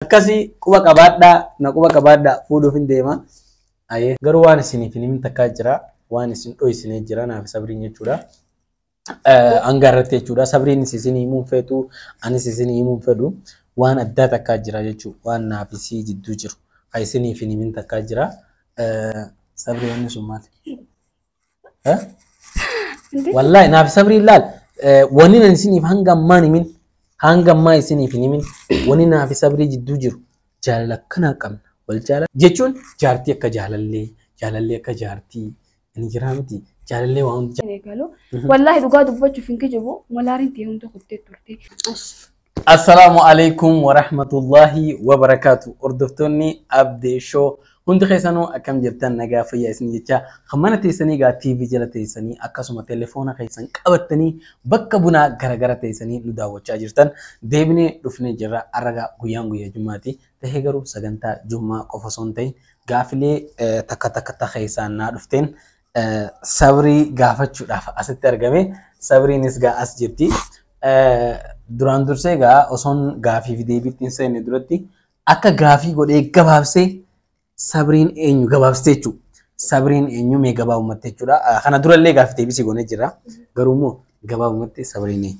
Akkasi quba qabaadhaa na quba qabaadhaa fuudhuufin deema. Aye. Garuu waan isiniif hin himin takkaa jira waan isin dhoysine jira naaf sabriin jechuudha. Hanga irratti jechuudha sabriinis isin himuun feetu anis isin himuun fedhu waan addaa takkaa jira jechuu waan naaf isii jidduu jiru ha isiniif hin himin takkaa jira. Sabrii wanni sun maali? Eh? Wallahi naaf sabrii laal eh, wanni nan isiniif hanga ammaa hin himin hanga ammaa isiniif hin himin wanni naaf sabrii jidduu jiru jaalala akkanaa qabna wal jaalala jechuun jaartii akka jaalallee jaalallee akka jaartii inni jiraa miti jaalallee waan hundi eegalu. Wallaahi dhugaa dubbachuuf hin kijibu. Malaariin tee hunda kuttee turte. Assalaamu alaikum warahmatullahi wabarakaatu hordoftoonni Abdee Show hundi keessanuu akkam jirtan nagaa fayyaa isin jecha kan mana teessanii gaa TV jala teessanii akkasuma telefoona keessan qabattanii bakka bunaa garagara teessanii nu daawwachaa jirtan deebinee dhufnee jirra arragaa guyyaan guyyaa jummaati tahee garuu sagantaa jummaa qofa osoo hin ta'in gaafilee eh, takka takka ta keessaan naa dhufteen sabrii gaafachuudhaaf asitti argame. Sabriinis gaa as jirti. Duraan dursee gaa osoon gaafii fi deebiitti hin seenne duratti akka gaafii godhee gabaabsee sabriin eenyu gabaabsee jechuudha. Sabriin eenyu mee gabaabumatti jechuudha. Kana durallee gaafii deebisii goonee jira. Garuu immoo gabaabumatti sabriin eenyu?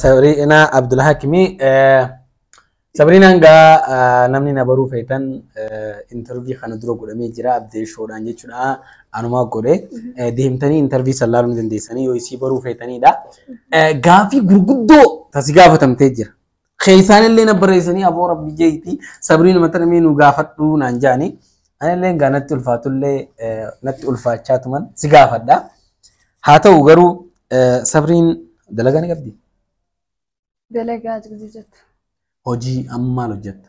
Sabriinaa Abdulhakimi. Sabriinaan gaa namni na baruu feetan intarvii kana dura godhamee jira abdee shoodhaan jechuudha anumaa godhe deemtanii intarvii san laaluu ni dandeessanii yoo isii baruu feetanidha. Gaafii gurguddoo tasi gaafatamtee jira. Keessaan illee na barreessanii aboo rabbi jeeti sabrii nama tana mee nu gaafadhu naan jaani. Ani illee egaa natti ulfaatu illee natti ulfaachaa tuman si gaafadha. Haa ta'u garuu sabriin dalagaa ni qabdi. Dalagaa jirti jettu. Hojii amma maal hojjetta?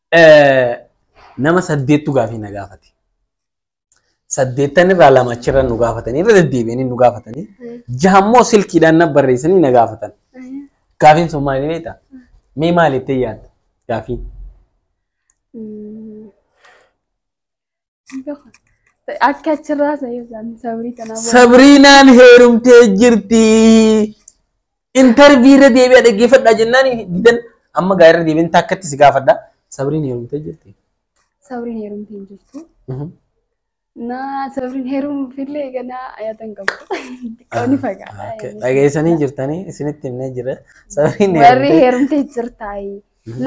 Nama saddeettu gaafii na gaafate. Saddeettan irraa lama achirra nu gaafatanii irra deddeebi'anii nu gaafatanii jaha immoo silkiidhaan na barreessanii na gaafatan. Gaafiin sun maali beektaa? Mee maali jettee yaadda? Gaafiin. Akka achirraa sa'ee isaan sabrii tanaa booda. Sabriinaan heerumtee jirti. Intarvii irra deebi'aa dhaggeeffadhaa jennaan didan amma gaa irra deebiin takkatti si gaafadha. Sabriin heerumtee jirti. Sabriin heerumtee hin jirtu. Mhm. Naa sabriin heerumuuf illee ganaa ayatan qabu. Xiqqoo ni fagaata. Okay. Dhageessanii jirtanii isinitti himnee jira. Sabriin Warri heerumtee. heerumtee jirtaayi.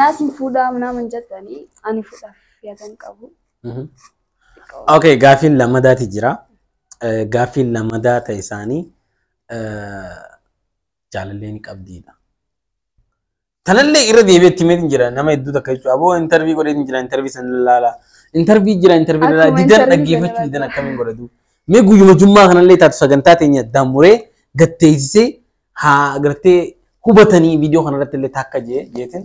Naas hin fuudhaa naman jettanii ani fuudhaaf yadan qabu. Ok, gaaffiin lammadaati jira. Eh, Gaaffiin lammadaa ta'e isaanii eh, jaalallee ni qabdiidha. Tanallee irra deebi'ee itti himeetiin jira nama hedduu takka jechuudha. Aboo intarvii godheetiin jira intarvii san laala. Intarvii jira intarvii laala. Akkuma Didan interview dhaggeeffachuu sana didan laala. akkamiin godhatu. Mee guyyuma jummaa kanallee taatu sagantaa teenya daamuree gatteessisee haa gartee hubatanii viidiyoo kanarratti illee takka jee jeetiin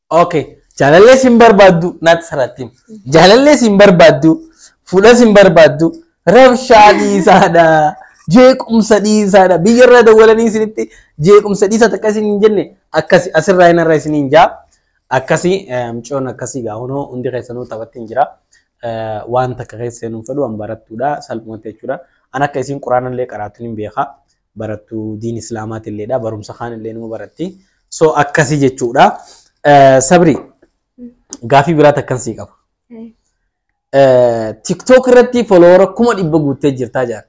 Okay. Jaalallee sin barbaaddu naatti saraattiin. Jaalallee sin barbaaddu fuula sin barbaaddu rabshaa dhiisaadha. Jeequmsa dhiisaadha. Biyya irraa dawwalanii isinitti jeequmsa dhiisaa takka isin hin jenne akkasi asirraa hin irraa isin hin jaa. Akkasi mucoon akkasii gaa hunoo hundi keessanuu taphatti hin jira. Eh, Waan takka keessa hin fedhu waan barattuudha salphumatti jechuudha. An akka isin quraanallee qaraatun hin beeka. barattu diin islaamaatilleedha barumsa kaanillee numa baratti so akkasi jechuudha sabri gaafii biraa takkan sii qaba tiktok irratti folowara kuma dhibba guuttee jirtaa jaan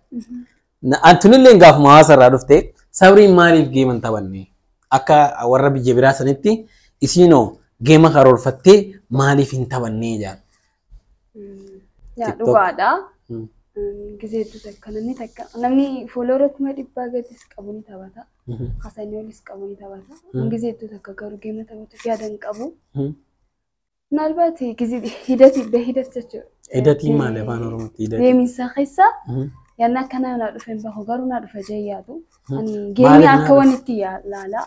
antunillee gaafuma hawaasa irraa dhufte sabriin maaliif geema hin taphanne akka warra biyya biraa sanitti isiinoo geema karoorfattee maaliif hin taphannee jaan Yaa TikTok. dhugaadha. Mm. Gizee hedduu takka namni takka namni fuuloora kuma dhibbaa gadis qabu ni taphata. Mhm. Hasanii olis qabu ni taphata. Mm. Gizee hedduu takka garuu geema taphatuuf yaada hin qabu. Mhm. Maalbaati gizee hidati be hidat jechuudha. Hidatii maali afaan Oromootti hidatii? Deeminsa keessa Mhm. yaanni akkanaa naa dhufe hin bahu garuu naa dhufe jee yaadu. Mhm. Ani Maaliif geemii naa akka dhufe? wanitti yaa- laala.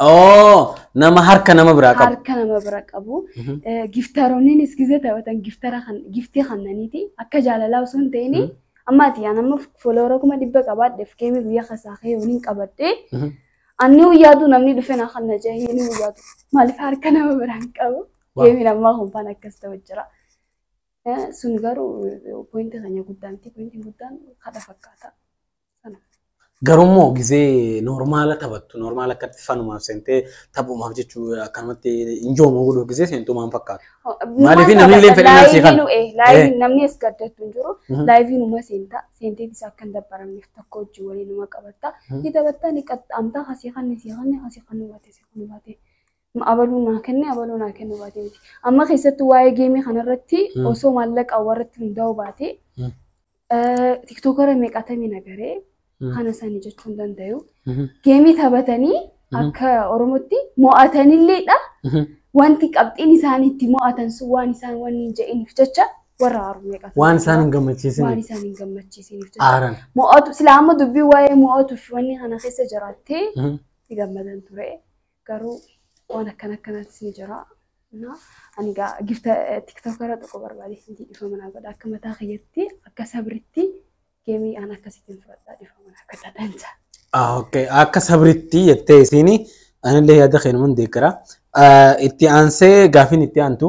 Oo nama harka nama biraa qabu. harka nama bira qabu. Mhm. Eh, Giftaroonnis gizee taphatan giftara kan giftii kannaniiti akka jaalalaa osoo hin ta'in Mhm. amma ati yaa nama foloora kuma dhibba qabaadheef keemii guyyaa keessaa kee waliin qabadhee Mhm. anni guyyaatu namni dhufe na kan na jahee inni guyyaatu maaliif harka nama biraan qabu Waaw. keemiin ammaa kumpaan akkas ta'u jira. Eh, Sun garuu pointi keenya guddaan ti pointiin guddaan kadha fakkaata. Garummoo gizee normaala taphattu normaala akkatti fanumaaf seentee taphumaaf jechuu akkanumatti injoomoo godhuu gizee seentuu maal fakkaata? Maaliif namni illee fedhii nafsii kana? Laayiviin namni as gaddattu hin jiru. Laayiviin uma seentaa seentee isa akka hin dabbaramneef tokko hojii waliin uma qabatta. Ni taphatta ni qaxxaamta hasii kanni sii kanni hasii kanni baate sii kanni baate. abaluu naa kenne abaluu naa kennu baate miti. Amma keessattuu waa'ee geemii kanarratti Mm. osoo maallaqa warratti hundaa'u baate Mm. tiktookara meeqatamii nagaree Mm. kana sani jechuu hin dandayu. Mhm. Geemii taphatanii Mhm. akka Oromootti mo'atanilleedha. Mhm. Wanti qabxiin isaan itti mo'atan sun waan isaan wanni hin jedhiniif jecha warra aaru meeqatu. Waan isaan hin waan gammachiisine isaan hin gammachiisiniif jecha. aaran. Mo'atu silaa amma dubbii waa'ee mo'atu fi wanni kana keessa jiraattee Mhm. itti gammadan ture. garuu waan akkana akkanaatti ni jira. Na- Ani gaa gifta tiktok irra tokko barbaadee sinti dhifama naa godha akka mataa kiyyatti akka sabritti geemii aan akkasitti hin fudhadhaa dhifama naa godha dansa. Ah, okay. Akka sabritti jettee isiin anillee yaada keenuman deeggara. Ah, Itti aansee gaafiin itti aantu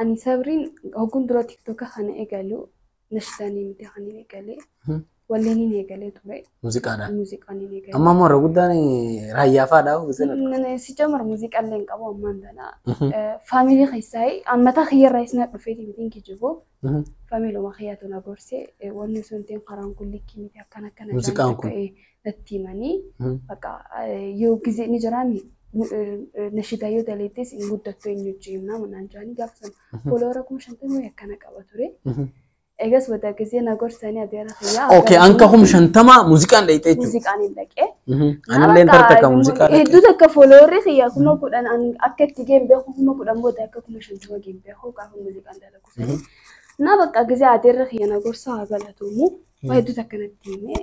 Ani sabriin hogguun dura tiktoka kana eegalu nashidaanin miti kan hin eegalee walleen hin eegalee ture Muuziqaadha. muuziqaan hin eegalee. Amma immoo irra guddaan raayyaa faadha. Nana si jamar muuziqaa illee hin qabu ammaan tana. Faamilii keessaa ammataa kiyyarraa isna dhufeeti mitiin kijibu. Faamiluma kiyyaatu na gorse wanni sun tiin karaan kun likkii miti akkana akkana. Muuziqaan kun. natti himanii bakka yoo gizee ni jiraami nashidaa yoo daleettees hin guddattu eenyu hojii himnaa manaan jiraanii gaafa sana fooloora kuma shantamii wayii akkana qaba ture. Egas bada gizee na gorsanii adeera fayyaa. Okay, anka hum shantama muuziqaan dhayxee jechuudha. Muuziqaan hin dhaqee. Anillee hin tartakka muuziqaa dhaqee. Hedduu takka fooloorri kiyya kuma kudhan an akka itti geen beeku kuma kudhan booda akka kuma shantama geen beeku gaafa muuziqaan dalagu sanii. Na bakka gizee adeerra kiyya na gorsa haa galatuumu. Waa hedduu takka natti himee.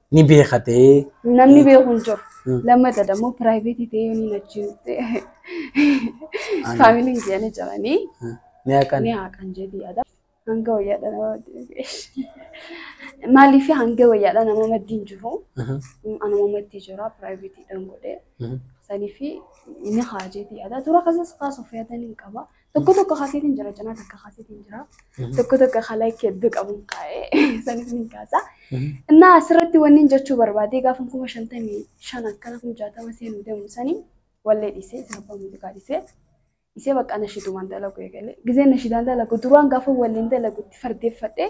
Ni beekatee. Namni beeku hin jiru. Hmm. Lammata dammoo piraayiveetii ta'ee yoo ni achiin Ani- faamiliin kiyya ni jiranii Ni haqan. ni haqan jedhii yaada. Hanga wayyaadha nama maddii Maaliif hanga wayyaadha nama maddii hin jiru. Mhm. Anuma maddii jira piraayiveetiidhaan godhee. Mhm. Saniif ni haa jedhii yaada. Tura kasas kaasuuf yaada ni qaba. Tokko tokko kaaseetiin jira cinaa takka kaaseetiin jira. Tokko tokko ka like hedduu qabu hin kaa'e sanis ni kaasa. Innaa asirratti wanni hin jechuu barbaadee gaafa kuma shantamii shan akkana kuma jaatama seenuu deemu sanii wallee dhiisee sabbaa muuziqaa dhiisee isee bakka nashidumaan dalaguu eegale. Gizeen nashidaan dalagu duraan gaafa walleen dalagutti fardeeffadhee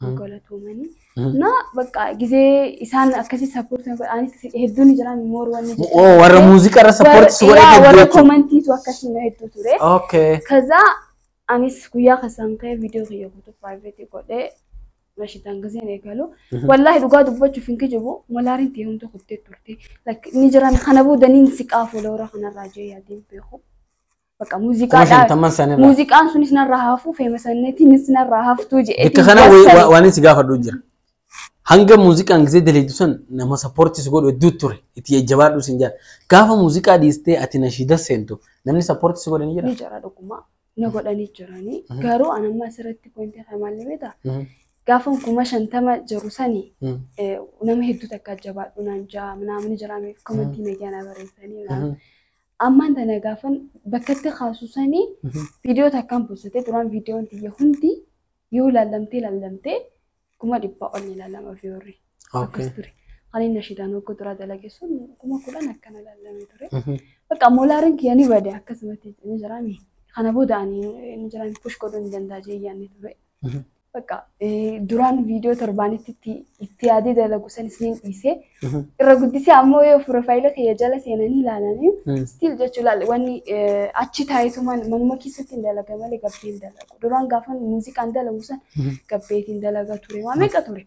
Hmm. Galatoomanii. Hmm. Na bakka gizee isaan akkasii sappoortii godhaanis hedduun jiraan moor wanni jedhu. Oo warra muuziqaa irra sappoortii si godhee Yaa, hedduu warra jechuudha. komantiitu akkasii na hedduu ture. Okay. Kaza anis guyyaa kasaan ka'ee viidiyoo kiyya guutuu piraayiveetii godhee rashitaan gizeen eegalu. Mhm. Wallaahi dhugaa dubbachuuf hin kijibu malaariin ta'e humna kuttee turte. Like, Ni jiran kana booda niin siqaa fuula warra kanarraa jee yaadeen beeku. Bakka kuma muuziqaa dhaa. shantamman san irraa Muuziqaan sunis narraa hafuu feema sanneetiinis narraa haftuu je'eetiin bikka kana wa- jassani. wa- waan inni si gaafadhu jira hanga muuziqaan gisee daleedu san nama sappoortii si godhu hedduu ture itti jajjabaadhu sin jaan gaafa muuziqaa dhiistee ati nashiida seentu namni sappoortii si godhe ni jira Ni jira dhugumaa. Na godhanii jiranii. Mhm. Garuu an amma asirratti pointii kana maal beektaa? Mhm. Gaafan kuma shantama jiru sani Mhm. eh, nama hedduu takka jabaadhu naan ja'a naamni jiraame komantii nagaa na barreessanii naan. Mhm. Ammaan tana gaafan bakkatti kaasu sani viidiyoo takkaan postatee duraan viidiyoon tiyya hundi yoo laallamtee laallamtee kuma dhibbaa ol ni laallama viiyoorri. Akkas ture. Kan inni ashidaan hogguu duraa dalage sun kuma kudhan akkana laallamee ture. Bakka moolaariin kiyya ni bade akkasumatti ni jiraame. Kana booda ani ni jiraame push godhuu ni danda'a jee yaanni ture. Bakka duraan viidiyoo torbaanitti itti yaadee dalagu san isiniin dhiisee irra guddisee ammoo yoo piroofaayila kiyya jala seenanii ilaalanii stiil jechuu ilaali wanni achi taayitumaan manuma keessatti hin dalaga malee gabbeen dalagu. Duraan gaafan muuziqaan dalagu san gabbeetiin dalaga ture. Waa meeqa ture?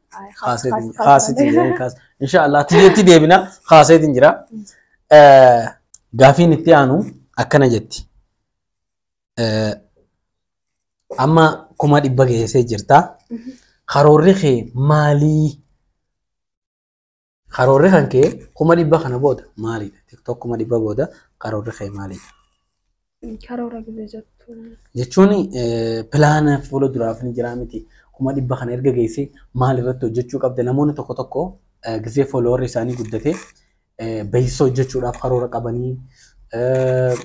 Inshaallah tiyyeetti deebina kaaseetiin jira. Gaafiin itti aanu akkana jetti. Amma kuma dhibba geessee jirta. Karoorri kee maalii? Karoorri kan kee kuma dhibba kana booda maalidha? TikTok kuma dhibba booda karoorri kee maalidha? Karoora gibee jettu. Jechuun pilaana fuula duraaf ni jira miti. Kuma dhibba kana erga geessee maal irratti hojjechuu qabda? Namoonni tokko tokko eh, gisee fooloowarri isaanii guddatee eh, beeksisa hojjechuudhaaf karoora qabanii eh,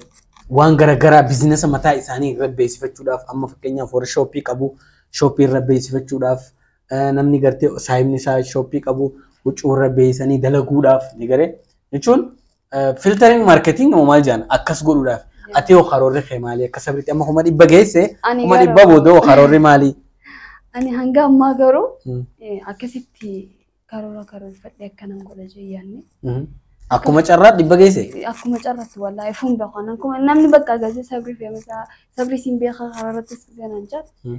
waan garaagaraa biizinasa mataa isaanii irra beeksifachuudhaaf amma fakkeenyaaf warri shooppii qabu shooppii irra beeksifachuudhaaf namni gartee saayibni isaa shooppii qabu huccuu irra beeksanii dalaguudhaaf ni garee jechuun filtering marketing moo maal jedhan akkas godhuudhaaf ati hoo karoorri kee maali akka sabritti amma kuma dhibba geesse Ani kuma garuu- dhibba booda hoo karoorri maali? Ani hanga ammaa garuu Mm. eh, akkasitti karoora karoorfadhee akkanan godha jee yaanne. Mhm. Akkuma carraa dhibba geesse. Akkuma carratti wallaahi fuun beekan akkuma namni bakka agarsiisa sabrii fi amasa sabrii siin beekaa karaa irratti ganaan jaa Mm.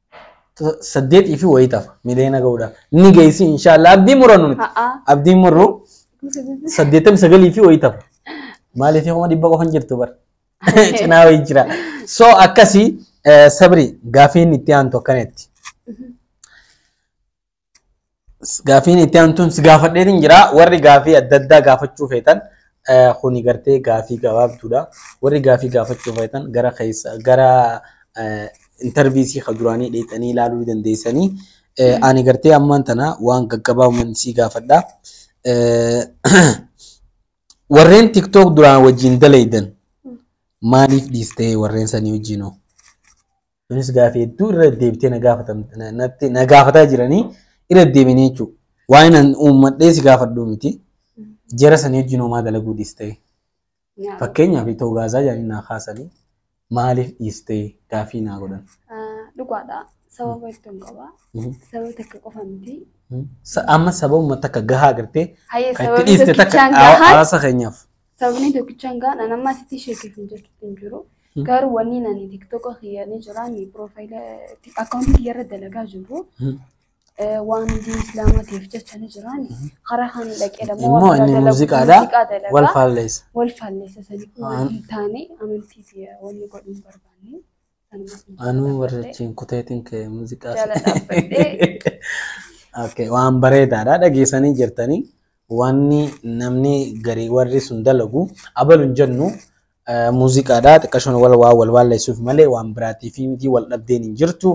saddeetii fi wayii tafa miliyoona ga'uudhaaf ni geessi inshaallah abdii murannu miti A'a. abdiin murru saddeettamii sagalii fi wayii tafa maaliif kuma dhibba qofa hin jirtu bara cinaa wayii jira so akkasii eh, sabri gaafiin itti aantu akkanatti Gaafiin itti aantuun si gaafadheetiin jira. Warri gaafii adda addaa gaafachuu feetan eh, kuni gartee gaafii gabaabduudha. Warri gaafii gaafachuu feetan gara keessa gara eh, intarviisii ka duraanii dheexanii ilaaluu ni dandeessanii. Eh, Ani gartee ammaan tana waan gaggabaabuman si gaafadha. Eh, Warreen TikTok duraan wajjin dalaydan maaliif dhiistee warreen sanii wajjinoo? Kunis gaafii hedduu irra deddeebitee na gaafatan- na- natti- na gaafataa jiranii irra deddeebinee jechuudha. Waan an uummadhee si gaafadhu miti. Jara sanii wajjin homaa dalaguu dhiistee. Naam. Fakkeenyaaf itoo gaazaa jedhanii naa kaasanii maaliif dhiistee gaafii naa godhan. Ah, Dhugaadha. Sababa hedduun qaba. Mhm. Sababa takka qofa miti. Sa- Amma sababuma takka gahaa agartee Hayyee kan itti sababni dhiiste takka tokkichaan hawa- gahaan hawaasa keenyaaf. Sababni tokkichaan gaa nan amma asitti ishee keessa hojjechuutti hin jiru. Garuu wanni nani tiktoka kiyya ni jira ni piroofaayila akkaawuntii kiyya irra dalagaa jiru. Waan hundi islaamaa ta'eef jecha ni jira. Karaa kan dhaqee dhammoo Immoo waan inni dalagu- muuziqaadha. muuziqaa dalagaa. Wal faalleessa. Wal faalleessa sanii kun waan hin taane amantii kiyya wanni godhu hin barbaanne. Anuu warra achiin kuteetiin kee muuziqaa Jala dhaabbadhee. Okay, waan bareedaadha dhageessanii jirtanii wanni namni garii warri sun dalagu abalu hin jennu eh, muuziqaadha xiqqashoon wal waa wal waalleessuuf malee waan biraatiif miti wal dhabdeen hin jirtu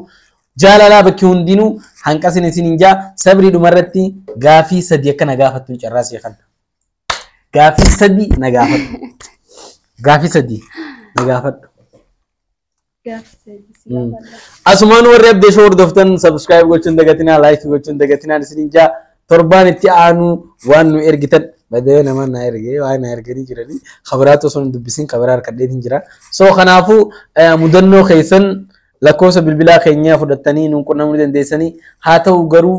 jaalalaa bakki hundinuu hanqasin isin hin jaa sabrii dhumarratti gaafii sadii akka na gaafattuun carraa sii kenna gaafii sadii na gaafadhu gaafii sadii na gaafadhu Gaaffi deebisi yaa bal'aa. Asumaan warri abdee shoo hordoftan subscribe gochuun dagatinaa like gochuun dagatinaan isinin jaa torbaan itti aanuu waan nu ergitan badee namaan naa ergee waan naa erganii jiranii kabiraatu osoo hin dubbisin kabiraa harkadheetiin jira so kanaafuu eh, mudannoo keessan lakkoofsa bilbilaa keenyaa fudhattanii nuun qunnamuu dandeessanii haa ta'u garuu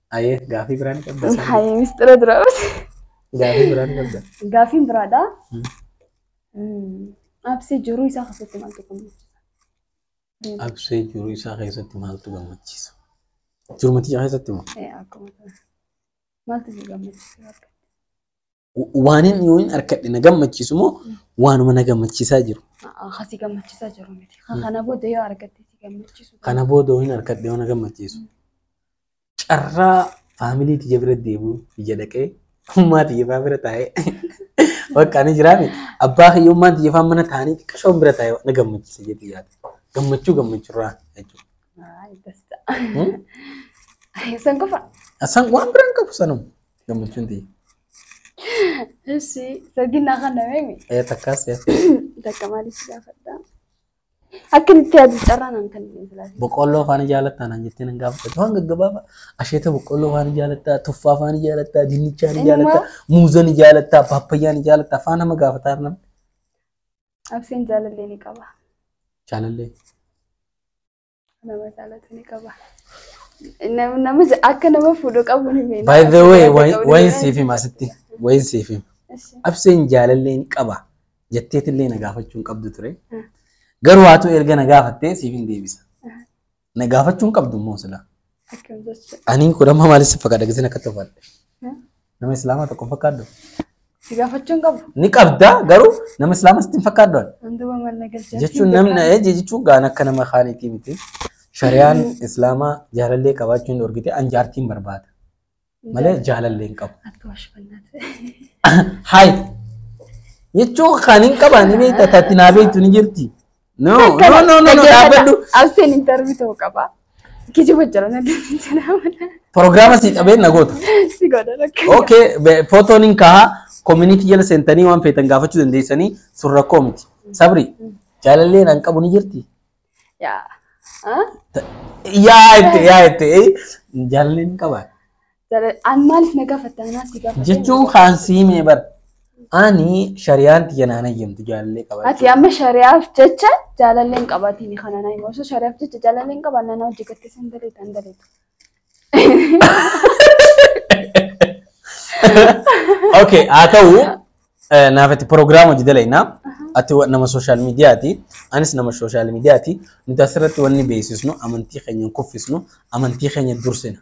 Ayee gaafii biraa ni qabda sana. Hayi mistira dura bate. Gaafii biraa ni qabda. Gaafiin biraadha. Absee jiruu isaa keessatti maaltu gammachiisa? Absee jiruu isaa keessatti maaltu gammachiisa? Jiruu matichaa keessatti moo? Akkuma maaltu si gammachiisa? Waanin yoonin harkadhe na gammachiisu moo waanuma na gammachiisaa jiru. Akkasii gammachiisaa jiru miti. Kana booda yoo argatte si gammachiisu. Kana booda yoonin harkadhe yoo na gammachiisu. Carraa faamilii tiyya bira deebi'u biyya dhaqee ummaa tiyya faa bira taa'ee bakka ani jiraame abbaa kiyya ummaa tiyya faa mana taa'anii xiqqashoon bira taa'ee na gammachiisa jedhee yaada. Gammachuu gammachuurraa jechuudha. San qofa. San waan biraan qabu sanuma. Gammachuun tiyya. Issi saginaa kana meemi. Ee takkaas yaa. Takka maaliif si gaafadha? Akka itti yaadu carraa naan kan hin filaatu. Boqqolloo faana jaalattaa naan jettee nan gaafadha. Waan gaggabaabaa asheeta boqqolloo faana jaalattaa, tuffaa faana jaalattaa, dinnichaa ni Inni jaalattaa, moo- muuza ni jaalattaa, paappayyaa ni jaalattaa faana nama gaafataa arnam. Abseen jaalallee ni qaba. Jaalallee. Nama jaalatu ni qaba. Nam- Nama ja- akka nama fuudhu qabu ni beekna. By the way, Akka nama wayin fuudhu siif hima asitti. Wayin siif hima. Ishi. Abseen jaalallee ni qaba. Jetteetillee na gaafachuu hin qabdu ture. Mm. Garuu haatu erga na gaafattee siif hin deebisa. Na gaafachuu hin qabdu immoo sila. Akkam jechuudha. Ani kun amma maaliif si fakkaata gisiin akka tolfaadha. Nama islaamaa tokko fakkaadhu. Si gaafachuun qabu. Ni qabda garuu nama islaamaa sitti hin fakkaadhu. Wanti waan maal na galchaa. Jechuun namni eh, jechuun gaan akka nama kaaniitii miti. Shari'aan islaamaa jaalallee qabaachuu hin dhorgite an jaartiin barbaada. malee jaalallee hin qabu. Akka washfannaati. Hayi. Jechuun kan hin qaban ni beekta tatti naa beektu ni jirti. No no no no no dhaabbadhu. Alfeen intarvii ta'uu qaba. Kijiba jira na deemee jira. Prograama sii qabee na goota. Si godha rakka. Okay be- footoon hin kaha community jala seentanii waan feetan gaafachuu dandeessanii sun rakkoo miti. Sabri jaalallee nan qabu ni jirti. Yaa. Ah? Yaa itti yaa itti eh, jaalalli hin qaba. Jala- An maaliif na gaafatta anaa si gaafadhe. Jechuu kaan siimee bar. Ani shariyaan tiyya naan hayyamtu jaalallee qaba. Ati amma shari'aaf jecha jaalallee hin qabatiin kana na hima. Osoo shari'aaf jecha jaalallee hin qabaanne anaa hojii gattee san daleetu an daleetu. Okay, haa ta'u eh, naaf itti proogiraama hojii dalaynaa. Ati wa- nama sooshaal miidiyaati. Anis nama sooshaal miidiyaati. Nuti asirratti wanni beeksisnu amantii keenya hin kuffisnu, amantii keenya dursina.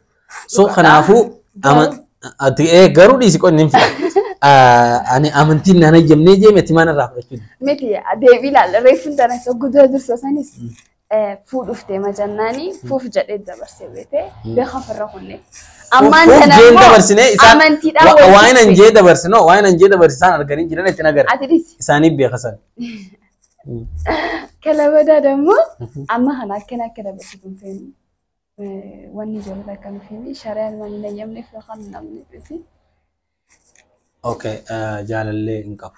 So kanaafuu ama- ati eh, garuu dhiisi qonni hin fida. Ah, Ani amantiin naan hayyamnee jeemee timaan irraa fudhachuu Miti deebii ilaalla reeffuun tana isa guddaa dursa sanis fuu dhuftee majannaani fuuf jedhee dabarsee beekee beeka ofirra kunne. Ammaan Fuuf kana jeen immoo dabarsine isaan amantiidhaan wa- wal waan an jibbe. jee dabarse no waan an jee dabarse isaan arganii jiran itti nagara Ati dhisi. isaanii beekasan. Kalabadaa dammoo amma kana akkana akka dabarsu kun feenu. Wanni jiru akka nu feenu shari'aan waan hin eeyyamneef yookaan hin amneef. Okay jaalallee hin qabu.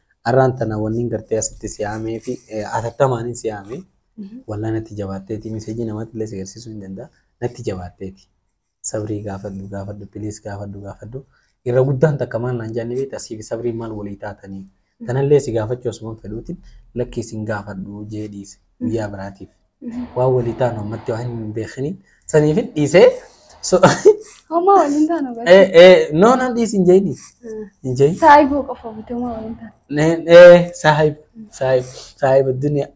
Arraan tana wanni gartee asitti si yaamee fi atattamaan si yaame wallaan natti jabaatteeti miseejii namatti illee si agarsiisuu hin danda'a natti jabaatteeti. Sabrii gaafadhu gaafadhu piliis gaafadhu gaafadhu irra guddaan takka maal naan jaanni beekta asii fi sabrii maal walii taatanii tanallee si gaafachuu asuman fedhuutiin lakkii sin gaafadhu jee dhiise guyyaa biraatiif. Waan walii taanu ammatti waan hin beekini. Saniif dhiisee. so- Homaa waliin taanu Eh, barsiisa. eh, No, no, dhiisi hin jeeni. Hin jeeni. Saayibuu qofa bitee homaa waliin taanu. Ne- eh, Saahib, saahib, saahib duniyaa.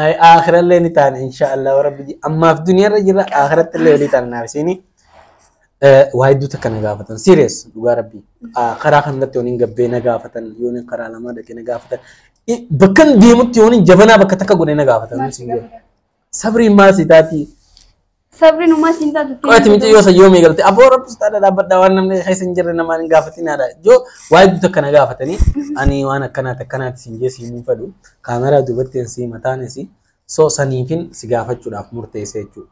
Ay, Aakhirallee ni taana inshaallah rabbi. Ammaaf duniyaarra jirra aakhiraatti illee walii taana naaf isiini. Eh, waa hedduu takka na gaafatan serious dhugaa rabbii Ah, karaa kanarratti yoon hin gabbee na gaafatan yoon hin karaa lamaa dhaqee na gaafatan Eh, bakkan deemutti yoon hin jabanaa bakka takka godhee na gaafatan Maal si gaafata? sabriin maal si taatii Sabriin umaa siin taatu. qo'ati miti yoo san yoomii galte aboo rabbi sitaadha dhaabbadha waan namni keessa hin jirre namaan hin gaafatinaadha yoo waa hedduu takka na gaafatanii ani waan akkanaati akkanaati siin jee siin hin fedhu kaameraa duubatti hin sii mataan isii so saniifin si gaafachuudhaaf murteessee jechuudha.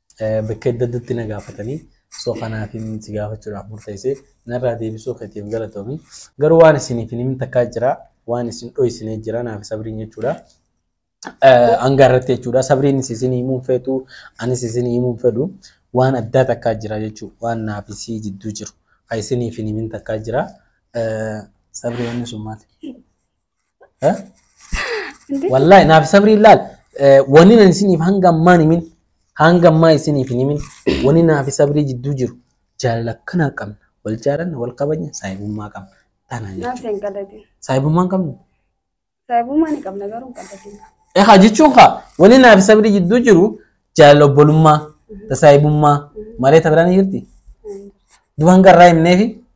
Bakka adda addatti na gaafatanii soo kanaafin si gaafachuudhaaf murteesse narraa deebisuu keetiif galatoomi. Garuu waan isiniif hin himin takkaa jira waan isin dhoysinee jira naaf sabriin jechuudha. Hanga irratti jechuudha sabriin isin himuun feetu anis isin himuun fedhu waan addaa takkaa jira jechuudha waan naaf isii jidduu jiru kan isiniif hin himin takkaa jira. Sabrii wanni sun maali? Eh? Wallahi naaf sabrii laal eh, wani nan isiniif hanga ammaa hin himin hanga ammaa isiniif hin himin wani naaf sabrii jidduu jiru jaalala akkanaa qabna wal jaalanna wal kabajna saahibummaa qabna tanaa jechuudha. Naaf hin qaladin. Saahibummaa hin qabnu. Saahibummaa ni qabna garuu hin qaladin. Egaa jechuun kaa wani naaf sabrii jidduu jiru jaalala obbolummaa tasaahibummaa malee tabiraan jirti. Duban garraa himneefi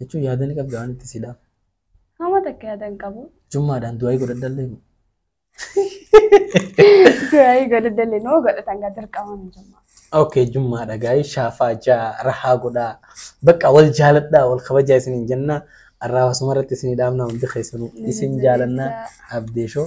Jechuun yaada ni qabda waan itti si dhaaf. Hama takka yaada hin qabu. Jummaadhaan du'aa godhadhallee moo. Du'aayii godhadhallee noo godhatan gaa dirqama hin jummaa. Okay, jummaadha gaa'ii shaafaa jaa rahaa godhaa. Bakka wal jaaladhaa wal kabajaa isiniin jennaa. Arraa wasuma irratti isinii dhaabnaa hundi keessanuu isin jaalannaa abdeeshoo.